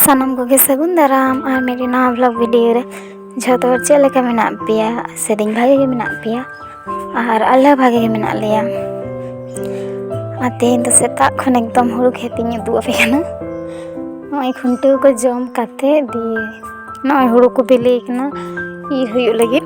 ᱥᱟᱱᱟᱢ ᱠᱚᱜᱮ ᱥᱟᱹᱜᱩᱱ ᱫᱟᱨᱟᱢ ᱟᱨ ᱢᱤᱫᱴᱮᱱ ᱱᱟᱣᱟ ᱵᱞᱚᱜ ᱵᱷᱤᱰᱤᱭᱳ ᱨᱮ ᱡᱷᱚᱛᱚ ᱦᱚᱲ ᱪᱮᱫ ᱞᱮᱠᱟ ᱢᱮᱱᱟᱜ ᱯᱮᱭᱟ ᱥᱮᱫᱤᱧ ᱵᱷᱟᱜᱮ ᱜᱮ ᱢᱮᱱᱟᱜ ᱯᱮᱭᱟ ᱟᱨ ᱟᱞᱮ ᱦᱚᱸ ᱵᱷᱟᱜᱮ ᱜᱮ ᱢᱮᱱᱟᱜ ᱞᱮᱭᱟ ᱟᱨ ᱛᱮᱦᱮᱧ ᱫᱚ ᱥᱮᱛᱟᱜ ᱠᱷᱚᱱ ᱮᱠᱫᱚᱢ ᱦᱩᱲᱩ ᱠᱷᱮᱛᱤᱧ ᱩᱫᱩᱜ ᱟᱯᱮ ᱠᱟᱱᱟ ᱱᱚᱜᱼᱚᱭ ᱠᱷᱩᱱᱴᱟᱹᱣ ᱠᱚ ᱡᱚᱢ ᱠᱟᱛᱮ ᱫᱤᱭᱮ ᱱᱚᱜᱼᱚᱭ ᱦᱩᱲᱩ ᱠᱚ ᱵᱤᱞᱤᱭ ᱠᱟᱱᱟ ᱤᱨ ᱦᱩᱭᱩᱜ ᱞᱟᱹᱜᱤᱫ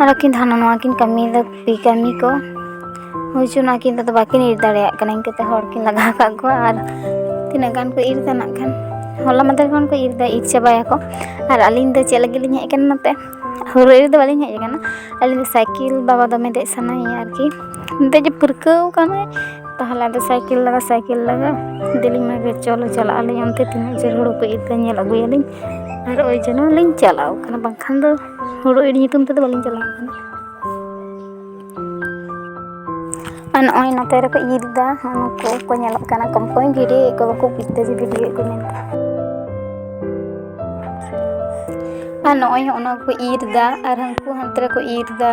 ᱟᱨ ᱟᱹᱠᱤᱱ ᱦᱟᱱᱟ ᱱᱚᱣᱟ ᱠᱤᱱ ᱠᱟᱹᱢᱤᱭᱮᱫᱟ ᱠᱩᱲᱤ ᱠᱟᱹᱢᱤ ᱠᱚ ᱦᱩᱭ ᱪᱚᱱᱟ ᱟᱹᱠᱤᱱ ᱫᱚ ᱵᱟᱹᱠᱤᱱ ᱤᱨ ᱫᱟᱲᱮᱭᱟᱜ ᱠᱟᱱᱟ ᱤᱱᱠᱟᱹ ᱛᱮ ᱦᱚᱲ ᱠᱤᱱ ᱞᱟᱜᱟᱣ ᱠᱟᱜ ᱠᱚᱣᱟ ᱟᱨ ᱛᱤᱱᱟᱹᱜ ᱜᱟᱱ ᱠᱚ ᱤᱨ ᱫᱟ ᱱᱟᱜ ᱠᱷᱟᱱ ᱦᱚᱞᱟ ᱢᱟᱫᱷᱮᱨ ᱠᱷᱚᱱ ᱠᱚ ᱤᱨ ᱫᱟ ᱤᱨ ᱪᱟᱵᱟᱭᱟᱠᱚ ᱟᱨ ᱟᱹᱞᱤᱧ ᱫᱚ ᱪᱮᱫ ᱞᱟᱹᱜᱤᱫ ᱞᱤᱧ ᱦᱮᱡ ᱠᱟᱱᱟ ᱱᱚᱛᱮ ᱦᱩᱲᱩ ᱤᱨ ᱫᱚ ᱵᱟᱹᱞᱤᱧ ᱦᱮᱡ ᱠᱟᱱᱟ ᱟᱹᱞᱤᱧ ᱫᱚ ᱥᱟᱭᱠᱮᱞ ᱵᱟᱵᱟ ᱫᱚᱢᱮ ᱫᱮᱡ ᱥᱟᱱᱟᱭᱮᱭᱟ ᱟᱨᱠᱤ ᱫᱮᱡ ᱯᱟᱹᱨᱠᱟᱹᱣ ᱠᱟᱱᱟᱭ ᱛᱟᱦᱚᱞᱮ ᱟᱫᱚ ᱥᱟᱭᱠᱮᱞ ᱞᱟᱜᱟ ᱥᱟᱭᱠᱮᱞ ᱞᱟᱜᱟ ᱫᱮᱞᱤᱧ ᱢᱮᱱ ᱠᱮᱫᱟ ᱪᱚᱞᱚ ᱪᱟᱞᱟᱜ ᱟᱹᱞᱤᱧ ᱚᱱᱛᱮ ᱛᱤᱱᱟᱹᱜ ᱡᱷᱟᱹᱞ ᱦᱩᱲᱩ ᱠᱚ ᱤᱨ ᱫᱟ ᱧᱮᱞ ᱟᱹᱜᱩᱭᱟᱞᱤᱧ ᱟᱨ ᱳᱭ ᱡᱚᱱᱱᱚ ᱞᱤᱧ ᱪᱟᱞᱟᱣ ᱠᱟᱱᱟ ᱵᱟᱝᱠᱷᱟᱱ ᱫᱚ ᱦᱩᱲᱩ ᱤᱨ ᱧᱩᱛᱩᱢ ᱛᱮᱫᱚ ᱵᱟᱹᱞᱤᱧ ᱪᱟᱞᱟᱣ ᱟᱠᱟᱱᱟ ᱟᱨ ᱱᱚᱜᱼᱚᱭ ᱱᱚᱛᱮ ᱨᱮᱠᱚ ᱤᱨ ᱮᱫᱟ ᱱᱩᱠᱩ ᱠᱚ ᱧᱮᱞᱚᱜ ᱠᱟᱱᱟ ᱠᱚᱢ ᱠᱚᱢ ᱵᱷᱤᱰᱤᱭᱳ ᱠᱚ ᱵᱟᱠᱚ ᱵᱩᱡᱽᱫᱟ ᱡᱮ ᱵᱷᱤᱰᱤᱭᱳ ᱠᱚ ᱢᱮᱱᱟ ᱟᱨ ᱱᱚᱜᱼᱚᱭ ᱚᱱᱟ ᱠᱚ ᱤᱨ ᱮᱫᱟ ᱟᱨ ᱦᱟᱹᱱᱠᱩ ᱦᱟᱱᱛᱮ ᱨᱮᱠᱚ ᱤᱨ ᱮᱫᱟ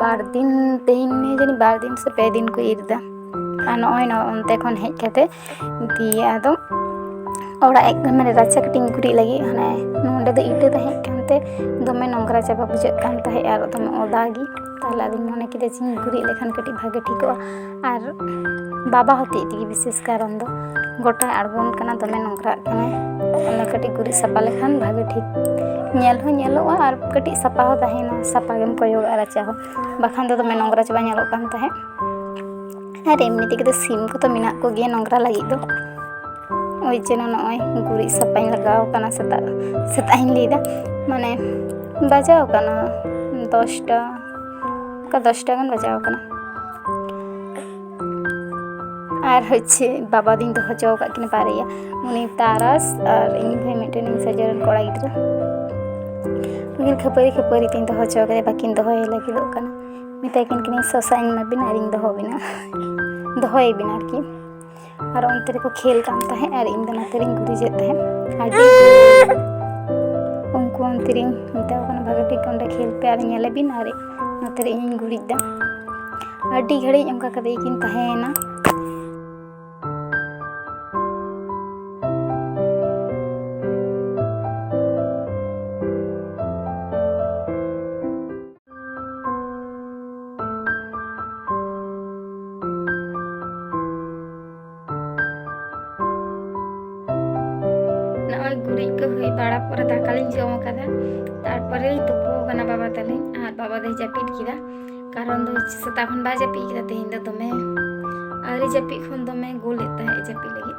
ᱵᱟᱨ ᱫᱤᱱ ᱛᱮᱦᱮᱧ ᱡᱟᱹᱱᱤᱡ ᱵᱟᱨ ᱫᱤᱱ ᱥᱮ ᱯᱮ ᱫᱤᱱ ᱠᱚ ᱤᱨ ᱮᱫᱟ ᱟᱨ ᱱᱚᱜᱼᱚᱭ ᱱᱚᱜᱼᱚᱭ ᱚᱱᱛᱮ ᱠᱷᱚᱱ ᱦᱮᱡ ᱠᱟᱛᱮ ᱫᱤᱭᱮ ᱟᱫᱚ ᱚᱲᱟᱜ ᱮᱠ ᱢᱟᱱᱮ ᱨᱟᱪᱟ ᱠᱟᱹᱴᱤᱡ ᱤᱧ ᱜᱩᱨᱤᱡ ᱞᱟᱹᱜᱤᱫ ᱦᱟᱱᱮ ᱱᱚᱰᱮ ᱫᱚ ᱤᱴᱟᱹ ᱛᱟᱦᱮᱸ ᱠᱟᱱᱛᱮ ᱫᱚᱢᱮ ᱱᱚᱝᱨᱟ ᱪᱟᱵᱟ ᱵᱩᱡᱷᱟᱹᱜ ᱠᱟᱱ ᱛᱟᱦᱮᱸᱜ ᱟᱨ ᱫᱚᱢᱮ ᱚᱫᱟ ᱜᱮ ᱛᱟᱦᱚᱞᱮ ᱟᱫᱚᱧ ᱢᱚᱱᱮ ᱠᱮᱫᱟ ᱡᱮ ᱜᱩᱨᱤᱡ ᱞᱮᱠᱷᱟᱱ ᱠᱟᱹᱴᱤᱡ ᱵᱷᱟᱜᱮ ᱴᱷᱤᱠᱚᱜᱼᱟ ᱟᱨ ᱵᱟᱵᱟ ᱦᱚᱛᱮᱡ ᱛᱮᱜᱮ ᱵᱤᱥᱮᱥ ᱠᱟᱨᱚᱱ ᱫᱚ ᱜᱚᱴᱟᱭ ᱟᱬᱜᱚᱱ ᱠᱟᱱᱟ ᱫᱚᱢᱮ ᱱᱚᱝᱨᱟᱜ ᱠᱟᱱᱟᱭ ᱚᱱᱟ ᱠᱟᱹᱴᱤᱡ ᱜᱩᱨᱤᱡ ᱥᱟᱯᱷᱟ ᱞᱮᱠᱷᱟᱱ ᱵᱷᱟᱜᱮ ᱴᱷᱤᱠ ᱧᱮᱞ ᱦᱚᱸ ᱧᱮᱞᱚᱜᱼᱟ ᱟᱨ ᱠᱟᱹᱴᱤᱡ ᱥᱟᱯᱷᱟ ᱦᱚᱸ ᱛᱟᱦᱮᱱᱟ ᱥᱟᱯᱷᱟ ᱜᱮᱢ ᱠᱚᱭᱚᱜᱟ ᱨᱟᱪᱟ ᱦᱚᱸ ᱵᱟᱠᱷᱟᱱ ᱫᱚ ᱫᱚᱢᱮ ᱱᱚᱝᱨᱟ ᱪᱟᱵᱟ ᱧᱮᱞᱚᱜ ᱠᱟᱱ ᱛᱟᱦᱮᱸᱫ ᱟᱨ ᱮᱢᱱᱤ ᱛᱮᱜᱮ ᱫᱚ ᱥᱤᱢ ᱠᱚᱫᱚ ᱢᱮᱱᱟᱜ ᱠᱚᱜᱮᱭᱟ ᱱᱚᱝᱨᱟ ᱞᱟᱹᱜᱤᱫ ᱫᱚ ᱳᱭ ᱡᱮᱱ ᱱᱚᱜᱼᱚᱭ ᱜᱩᱨᱤᱡ ᱥᱟᱯᱷᱟᱧ ᱞᱟᱜᱟᱣ ᱠᱟᱱᱟ ᱥᱮᱛᱟᱜ ᱥᱮᱛᱟᱜ ᱤᱧ ᱞᱟᱹᱭᱫᱟ ᱢᱟᱱᱮ ᱵᱟᱡᱟᱣ ᱠᱟᱱᱟ ᱫᱚᱥᱴᱟ ᱚᱱᱠᱟ ᱫᱚᱥᱴᱟ ᱜᱟᱱ ᱵᱟᱡᱟᱣ ᱠᱟᱱᱟ ᱟᱨ ᱦᱚᱪᱪᱷᱮ ᱵᱟᱵᱟ ᱫᱤᱱ ᱫᱚ ᱦᱚᱪᱚ ᱟᱠᱟᱫ ᱠᱤᱱ ᱵᱟᱨᱭᱟ ᱩᱱᱤ ᱛᱟᱨᱟᱥ ᱟᱨ ᱤᱧ ᱵᱷᱟᱹᱭ ᱢᱤᱫᱴᱮᱱ ᱤᱧ ᱥᱟᱡᱟᱣ ᱨᱮᱱ ᱠᱚᱲᱟ ᱜᱤᱫᱽᱨᱟᱹ ᱩᱱᱠᱤᱱ ᱠᱷᱟᱹᱯᱟᱹᱨᱤ ᱠᱷᱟᱹᱯᱟᱹᱨᱤ ᱛᱤᱧ ᱫᱚᱦᱚ ᱦᱚᱪᱚ ᱠᱟᱫᱮ ᱵᱟᱹᱠᱤᱱ ᱫᱚᱦᱚᱭ ᱞᱟᱹᱜᱤᱫᱚᱜ ᱠᱟᱱᱟ ᱢᱮᱛᱟᱭ ᱠᱟᱱ ᱠᱤᱱᱟᱹᱧ ᱥᱚᱥᱟᱧ ᱮᱢᱟ ᱵᱤᱱᱟ ᱟᱨᱤᱧ ᱫᱚᱦᱚ ᱵᱤᱱᱟ ᱫᱚᱦᱚᱭ ᱵᱤᱱ ᱟᱨᱠᱤ ᱟᱨ ᱚᱱᱛᱮ ᱨᱮᱠᱚ ᱠᱷᱮᱞ ᱠᱟᱱ ᱛᱟᱦᱮᱸᱫ ᱟᱨ ᱤᱧ ᱫᱚ ᱱᱚᱛᱮ ᱨᱤᱧ ᱜᱩᱨᱤᱡᱮᱫ ᱛᱟᱦᱮᱸᱫ ᱟᱹᱰᱤ ᱩᱱᱠᱩ ᱚᱱᱛᱮ ᱨᱤᱧ ᱢᱮᱛᱟ ᱠᱚ ᱠᱟᱱᱟ ᱵᱷᱟᱜᱮ ᱴᱷᱤᱠ ᱚᱸᱰᱮ ᱠᱷᱮᱞ ᱯᱮ ᱟᱨ ᱧᱮᱞᱮ ᱵᱤᱱ ᱟᱨ ᱱᱚᱛᱮ ᱨᱮ ᱤᱧᱤᱧ ᱜᱩᱨᱤᱡ ᱫᱟ ᱟᱹᱰᱤ ᱜᱷᱟᱹᱲᱤᱡ ᱚᱱᱠᱟ ᱠᱟᱛᱮ ᱠᱤᱱ ᱛᱟᱦᱮᱸᱭᱮᱱᱟ ᱱᱚᱜᱼᱚᱭ ᱜᱩᱨᱤᱡ ᱠᱚ ᱦᱩᱭ ᱵᱟᱲᱟ ᱯᱚᱨᱮ ᱫᱟᱠᱟ ᱞᱤᱧ ᱡᱚᱢ ᱟᱠᱟᱫᱟ ᱛᱟᱨᱯᱚᱨᱮ ᱞᱤᱧ ᱛᱩᱯᱩ ᱟᱠᱟᱱᱟ ᱵᱟᱵᱟ ᱛᱟᱹᱞᱤᱧ ᱟᱨ ᱵᱟᱵᱟ ᱫᱚᱭ ᱡᱟᱹᱯᱤᱫ ᱠᱮᱫᱟ ᱠᱟᱨᱚᱱ ᱫᱚ ᱥᱮᱛᱟᱜ ᱠᱷᱚᱱ ᱵᱟᱭ ᱡᱟᱹᱯᱤᱫ ᱠᱮᱫᱟ ᱛᱮᱦᱮᱧ ᱫᱚ ᱫᱚᱢᱮ ᱟᱹᱣᱨᱤ ᱡᱟᱹᱯᱤᱫ ᱠᱷᱚᱱ ᱫᱚᱢᱮ ᱜᱳᱞᱮᱫ ᱛᱟᱦᱮᱸᱫ ᱡᱟᱹᱯᱤᱫ ᱞᱟᱹᱜᱤᱫ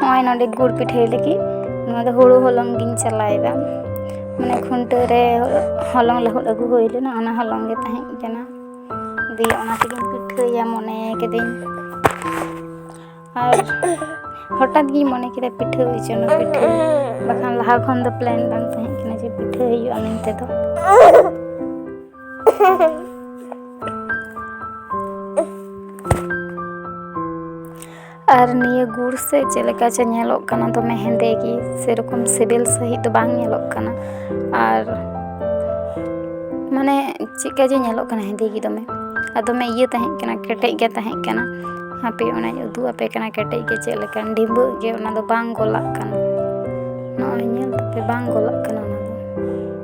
ᱱᱚᱜᱼᱚᱭ ᱱᱚᱰᱮ ᱜᱩᱲ ᱯᱤᱴᱷᱟᱹᱭ ᱞᱟᱹᱜᱤᱫ ᱱᱚᱣᱟ ᱫᱚ ᱦᱩᱲᱩ ᱦᱚᱞᱚᱝ ᱜᱤᱧ ᱪᱟᱞᱟᱣᱮᱫᱟ ᱢᱟᱱᱮ ᱠᱷᱩᱱᱴᱟᱹᱣ ᱨᱮ ᱦᱚᱞᱚᱝ ᱞᱟᱹᱦᱩᱫ ᱟᱹᱜᱩ ᱦᱩᱭ ᱞᱮᱱᱟ ᱚᱱᱟ ᱦᱚᱞᱚᱝ ᱜᱮ ᱛᱟᱦᱮᱸ ᱠᱟᱱᱟ ᱫᱤᱭᱮ ᱚᱱᱟ ᱛᱮᱜᱤᱧ ᱯᱤᱴᱷᱟᱹᱭᱟ ᱢᱚᱱᱮ ᱠᱤᱫᱟᱹᱧ ᱟᱨ ᱦᱚᱴᱟᱛ ᱜᱤᱧ ᱢᱚᱱᱮ ᱠᱮᱫᱟ ᱯᱤᱴᱷᱟᱹ ᱦᱩᱭ ᱪᱚᱱᱟ ᱯᱤᱴᱷᱟᱹ ᱵᱟᱠᱷᱟᱱ ᱞᱟᱦᱟ ᱠᱷᱚᱱ ᱫᱚ ᱯᱞᱮᱱ ᱵᱟᱝ ᱛᱟᱦᱮᱸ ᱠᱟᱱᱟ ᱡᱮ ᱯᱤᱴᱷᱟᱹ ᱦᱩᱭᱩᱜᱼᱟ ᱢᱮᱱᱛᱮ ᱫᱚ ᱟᱨ ᱱᱤᱭᱟᱹ ᱜᱩᱲ ᱥᱮ ᱪᱮᱫ ᱞᱮᱠᱟ ᱪᱚ ᱧᱮᱞᱚᱜ ᱠᱟᱱᱟ ᱫᱚᱢᱮ ᱦᱮᱸᱫᱮ ᱜᱮ ᱥᱮᱨᱚᱠᱚᱢ ᱥᱤᱵᱤᱞ ᱥᱟᱺᱦᱤᱡ ᱫᱚ ᱵᱟᱝ ᱧᱮᱞᱚᱜ ᱠᱟᱱᱟ ᱟᱨ ᱢᱟᱱᱮ ᱪᱮᱫᱠᱟ ᱡᱮ ᱧᱮᱞᱚᱜ ᱠᱟᱱᱟ ᱦᱮᱸᱫᱮ ᱜᱮ ᱫᱚᱢᱮ ᱟᱨ ᱫᱚᱢᱮ ᱤᱭᱟᱹ ᱛᱟᱦᱮᱸ ᱠᱟᱱᱟ ᱠᱮᱴᱮᱡ ᱜᱮ ᱛᱟᱦᱮᱸ ᱠᱟᱱᱟ ᱦᱟᱯᱮ ᱚᱱᱟᱧ ᱩᱫᱩᱜ ᱟᱯᱮ ᱠᱟᱱᱟ ᱠᱮᱴᱮᱡ ᱜᱮ ᱪᱮᱫ ᱞᱮᱠᱟ ᱰᱷᱤᱸᱵᱟᱹᱜ ᱜᱮ ᱚᱱᱟ ᱫᱚ ᱵᱟᱝ ᱜᱚᱞᱟᱜ ᱠᱟᱱᱟ ᱱᱚᱜᱼᱚᱭ ᱧᱮᱞ ᱛᱟᱯᱮ ᱵᱟᱝ ᱜᱚᱞᱟᱜ ᱠᱟᱱᱟ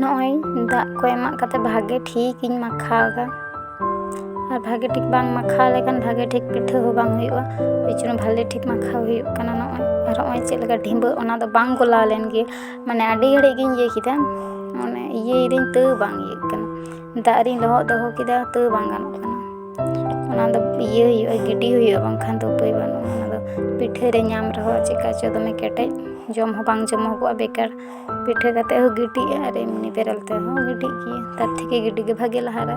ᱱᱚᱜᱼᱚᱭ ᱫᱟᱜ ᱠᱚ ᱮᱢᱟᱜ ᱠᱟᱛᱮ ᱵᱷᱟᱜᱮ ᱴᱷᱤᱠ ᱤᱧ ᱢᱟᱠᱷᱟᱣ ᱮᱫᱟ ᱟᱨ ᱵᱷᱟᱜᱮ ᱴᱷᱤᱠ ᱵᱟᱝ ᱢᱟᱠᱷᱟᱣ ᱞᱮᱠᱷᱟᱱ ᱵᱷᱟᱜᱮ ᱴᱷᱤᱠ ᱯᱤᱴᱷᱟᱹ ᱦᱚᱸ ᱵᱟᱝ ᱦᱩᱭᱩᱜᱼᱟ ᱮᱭ ᱡᱚᱱᱱᱚ ᱵᱷᱟᱜᱮ ᱴᱷᱤᱠ ᱢᱟᱠᱷᱟᱣ ᱦᱩᱭᱩᱜ ᱠᱟᱱᱟ ᱱᱚᱜᱼᱚᱭ ᱟᱨ ᱱᱚᱜᱼᱚᱭ ᱪᱮᱫ ᱞᱮᱠᱟ ᱰᱷᱤᱸᱵᱟᱹᱜ ᱚᱱᱟ ᱫᱚ ᱵᱟᱝ ᱜᱚᱞᱟᱣ ᱞᱮᱱ ᱜᱮ ᱢᱟᱱᱮ ᱟᱹᱰᱤ ᱜᱷᱟᱹᱲᱤᱡ ᱜᱤᱧ ᱤᱭᱟᱹ ᱠᱮᱫᱟ ᱢᱟᱱᱮ ᱤᱭᱟᱹᱭ ᱫᱟᱹᱧ ᱛᱟᱹᱣ ᱵᱟᱝ ᱤᱭᱟᱹᱜ ᱠᱟᱱᱟ ᱫᱟᱜ ᱨᱤᱧ ᱞᱚᱦᱚᱫ ᱫᱚᱦᱚ ᱠᱮᱫᱟ ᱛᱟᱹᱣ ᱵᱟᱝ ᱜᱟᱱᱚᱜ ᱠᱟᱱᱟ ᱚᱱᱟ ᱫᱚ ᱤᱭᱟᱹ ᱦᱩᱭᱩᱜᱼᱟ ᱜᱤᱰᱤ ᱦᱩᱭᱩᱜᱼᱟ ᱵᱟᱝᱠᱷᱟᱱ ᱫᱚ ᱩᱯᱟᱹᱭ ᱵᱟᱹᱱᱩᱜᱼᱟ ᱚᱱᱟ ᱫᱚ ᱯᱤᱴᱷᱟᱹ ᱨᱮ ᱧᱟᱢ ᱨᱮᱦᱚᱸ ᱪᱮᱠᱟ ᱪᱚ ᱫᱚᱢᱮ ᱠᱮᱴᱮᱡ ᱡᱚᱢ ᱦᱚᱸ ᱵᱟᱝ ᱡᱚᱢᱚᱜᱚᱜᱼᱟ ᱵᱮᱠᱟᱨ ᱯᱤᱴᱷᱟᱹ ᱠᱟᱛᱮ ᱦᱚᱸ ᱜᱤᱰᱤᱜᱼᱟ ᱟᱨ ᱮᱢᱱᱤ ᱵᱮᱨᱮᱞ ᱛᱮᱦᱚᱸ ᱜᱤᱰᱤᱜ ᱜᱮᱭᱟ ᱛᱟᱨ ᱛᱷᱮᱠᱮ ᱜᱤᱰᱤ ᱜᱮ ᱵᱷᱟᱜᱮ ᱞᱟᱦᱟ ᱨᱮ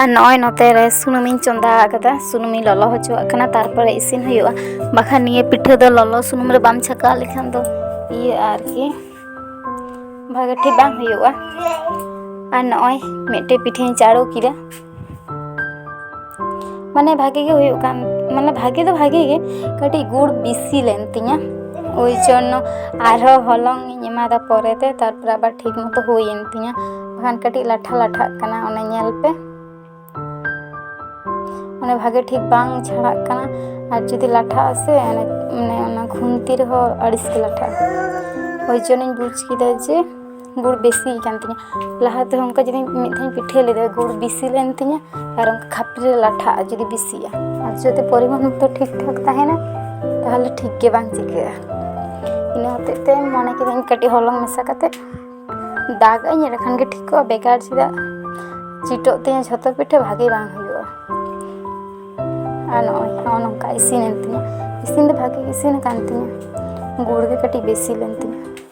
ᱟᱨ ᱱᱚᱜᱼᱚᱭ ᱱᱚᱛᱮ ᱨᱮ ᱥᱩᱱᱩᱢᱤᱧ ᱪᱚᱸᱫᱟ ᱟᱠᱟᱫᱟ ᱥᱩᱱᱩᱢᱤᱧ ᱞᱚᱞᱚ ᱦᱚᱪᱚᱣᱟᱜ ᱠᱟᱱᱟ ᱛᱟᱨᱯᱚᱨᱮ ᱤᱥᱤᱱ ᱦᱩᱭᱩᱜᱼᱟ ᱵᱟᱠᱷᱟᱱ ᱱᱤᱭᱟᱹ ᱯᱤᱴᱷᱟᱹ ᱫᱚ ᱞᱚᱞᱚ ᱥᱩᱱᱩᱢ ᱨᱮ ᱵᱟᱢ ᱪᱷᱟᱠᱟᱣ ᱞᱮᱠᱷᱟᱱ ᱫᱚ ᱤᱭᱟᱹ ᱟᱨᱠᱤ ᱵᱷᱟᱜᱮ ᱴᱷᱤᱠ ᱵᱟᱝ ᱦᱩᱭᱩᱜᱼᱟ ᱟᱨ ᱱᱚᱜᱼᱚᱭ ᱢᱤᱫᱴᱮᱡ ᱯᱤᱴᱷᱟᱹᱧ ᱪᱟᱲᱚ ᱠᱮᱫᱟ ᱢᱟᱱᱮ ᱵᱷᱟᱜᱮ ᱜᱮ ᱦᱩᱭᱩᱜ ᱠᱟᱱ ᱢᱟᱱᱮ ᱵᱷᱟᱜᱮ ᱫᱚ ᱵᱷᱟᱜᱮ ᱜᱮ ᱠᱟᱹᱴᱤᱡ ᱜᱩᱲ ᱵᱮᱥᱤ ᱞᱮᱱ ᱛᱤᱧᱟᱹ ᱳᱭ ᱡᱚᱱᱱᱚ ᱟᱨᱦᱚᱸ ᱦᱚᱞᱚᱝ ᱤᱧ ᱮᱢᱟᱫᱟ ᱯᱚᱨᱮᱛᱮ ᱛᱟᱨᱯᱚᱨᱮ ᱟᱵᱟᱨ ᱴᱷᱤᱠ ᱢᱚᱛᱚ ᱦᱩᱭᱮᱱ ᱛᱤᱧᱟᱹ ᱵᱟᱠᱷᱟᱱ ᱠᱟᱹᱴᱤᱡ ᱞᱟᱴᱷᱟ ᱞᱟᱴᱷᱟᱜ ᱠᱟᱱᱟ ᱚᱱᱟ ᱧᱮᱞ ᱯᱮ ᱢᱟᱱᱮ ᱵᱷᱟᱜᱮ ᱴᱷᱤᱠ ᱵᱟᱝ ᱪᱷᱟᱲᱟᱜ ᱠᱟᱱᱟ ᱟᱨ ᱡᱩᱫᱤ ᱞᱟᱴᱷᱟᱜ ᱟᱥᱮ ᱢᱟᱱᱮ ᱚᱱᱟ ᱠᱷᱩᱱᱛᱤ ᱨᱮᱦᱚᱸ ᱟᱹᱲᱤᱥ ᱜᱮ ᱞᱟᱴᱷᱟᱜᱼᱟ ᱳᱭ ᱡᱚᱱᱱᱚᱧ ᱵᱩᱡᱽ ᱠᱮᱫᱟ ᱡᱮ ᱜᱩᱲ ᱵᱮᱥᱤ ᱠᱟᱱ ᱛᱤᱧᱟᱹ ᱞᱟᱦᱟ ᱛᱮᱦᱚᱸ ᱚᱱᱠᱟ ᱡᱩᱫᱤ ᱢᱤᱫ ᱫᱷᱟᱣ ᱯᱤᱴᱷᱟᱹ ᱞᱮᱫᱟ ᱜᱩᱲ ᱵᱮᱥᱤ ᱞᱮᱱ ᱛᱤᱧᱟᱹ ᱟᱨ ᱚᱱᱠᱟ ᱠᱷᱟᱯᱨᱤ ᱨᱮ ᱞᱟᱴᱷᱟᱜᱼᱟ ᱡᱩᱫᱤ ᱵᱮᱥᱤᱜᱼᱟ ᱟᱨ ᱡᱩᱫᱤ ᱯᱚᱨᱤᱢᱟᱱ ᱢᱚᱛᱚ ᱴᱷᱤᱠ ᱴᱷᱟᱠ ᱛᱟᱦᱮᱱᱟ ᱛᱟᱦᱚᱞᱮ ᱴᱷᱤᱠ ᱜᱮ ᱵᱟᱝ ᱪᱤᱠᱟᱹᱜᱼᱟ ᱤᱱᱟᱹ ᱦᱚᱛᱮᱡ ᱛᱮ ᱢᱚᱱᱮ ᱠᱤᱫᱟᱹᱧ ᱠᱟᱹᱴᱤᱡ ᱦᱚᱞᱚᱝ ᱢᱮᱥᱟ ᱠᱟᱛᱮ ᱫᱟᱜ ᱟᱹᱧ ᱮᱸᱰᱮ ᱠᱷᱟᱱ ᱜᱮ ᱴᱷᱤᱠᱚᱜᱼᱟ ᱵᱮᱠᱟᱨ ᱪᱮᱫᱟᱜ ᱪᱤᱴᱟᱹᱜ ᱛᱤᱧᱟᱹ ᱡᱷᱚᱛᱚ ᱯᱤᱴᱷᱟᱹ ᱵᱷᱟᱜᱮ ᱵᱟᱝ ᱦᱩᱭᱩᱜᱼᱟ ᱟᱨ ᱱᱚᱜᱼᱚᱭ ᱱᱚᱜᱼᱚ ᱱᱚᱝᱠᱟ ᱤᱥᱤᱱᱮᱱ ᱛᱤᱧᱟᱹ ᱤᱥᱤᱱ ᱫᱚ ᱵᱷᱟᱜᱮ ᱜᱮ ᱤᱥᱤᱱ ᱟᱠᱟᱱ ᱛᱤᱧᱟᱹ ᱜᱩᱲ ᱜᱮ ᱠᱟᱹᱴᱤᱡ ᱵᱮᱥᱤ ᱞᱮᱱ ᱛᱤᱧᱟᱹ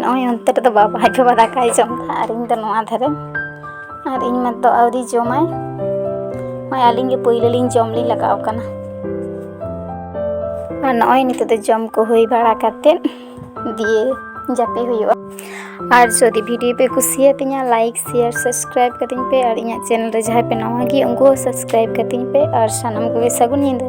ᱱᱚᱜᱼᱚᱭ ᱚᱱᱛᱮ ᱨᱮᱫᱚ ᱵᱟᱵᱟ ᱟᱡ ᱵᱟᱵᱟ ᱫᱟᱠᱟᱭ ᱡᱚᱢᱫᱟ ᱟᱨ ᱤᱧ ᱫᱚ ᱱᱚᱣᱟ ᱫᱷᱟᱨᱮ ᱟᱨ ᱤᱧ ᱢᱟᱛᱚ ᱟᱹᱣᱨᱤ ᱡᱚᱢᱟᱭ ᱱᱚᱜᱼᱚᱭ ᱟᱹᱞᱤᱧ ᱜᱮ ᱯᱳᱭᱞᱳ ᱞᱤᱧ ᱡᱚᱢ ᱞᱤᱧ ᱞᱟᱜᱟᱣ ᱠᱟᱱᱟ ᱟᱨ ᱱᱚᱜᱼᱚᱭ ᱱᱤᱛᱚᱜ ᱫᱚ ᱡᱚᱢ ᱠᱚ ᱦᱩᱭ ᱵᱟᱲᱟ ᱠᱟᱛᱮᱫ ᱫᱤᱭᱮ ᱡᱟᱹᱯᱤ ᱦᱩᱭᱩᱜᱼᱟ ᱟᱨ ᱡᱩᱫᱤ ᱵᱷᱤᱰᱤᱭᱳ ᱯᱮ ᱠᱩᱥᱤᱭᱟᱛᱤᱧᱟ ᱞᱟᱭᱤᱠ ᱥᱮᱭᱟᱨ ᱥᱟᱵᱥᱠᱨᱟᱭᱤᱵ ᱠᱟᱛᱤᱧ ᱯᱮ ᱟᱨ ᱤᱧᱟᱹᱜ ᱪᱮᱱᱮᱞ ᱨᱮ ᱡᱟᱦᱟᱸᱭ ᱯᱮ ᱱᱟᱣᱟ ᱜᱮ ᱩᱱᱠᱩ ᱦᱚᱸ ᱥᱟᱵᱥᱠᱨᱟᱭᱤᱵ ᱠᱟᱛᱤᱧ ᱯᱮ ᱟᱨ ᱥᱟᱱᱟᱢ ᱠᱚᱜᱮ ᱥᱟᱹᱜᱩᱱ ᱧᱤᱫᱟᱹ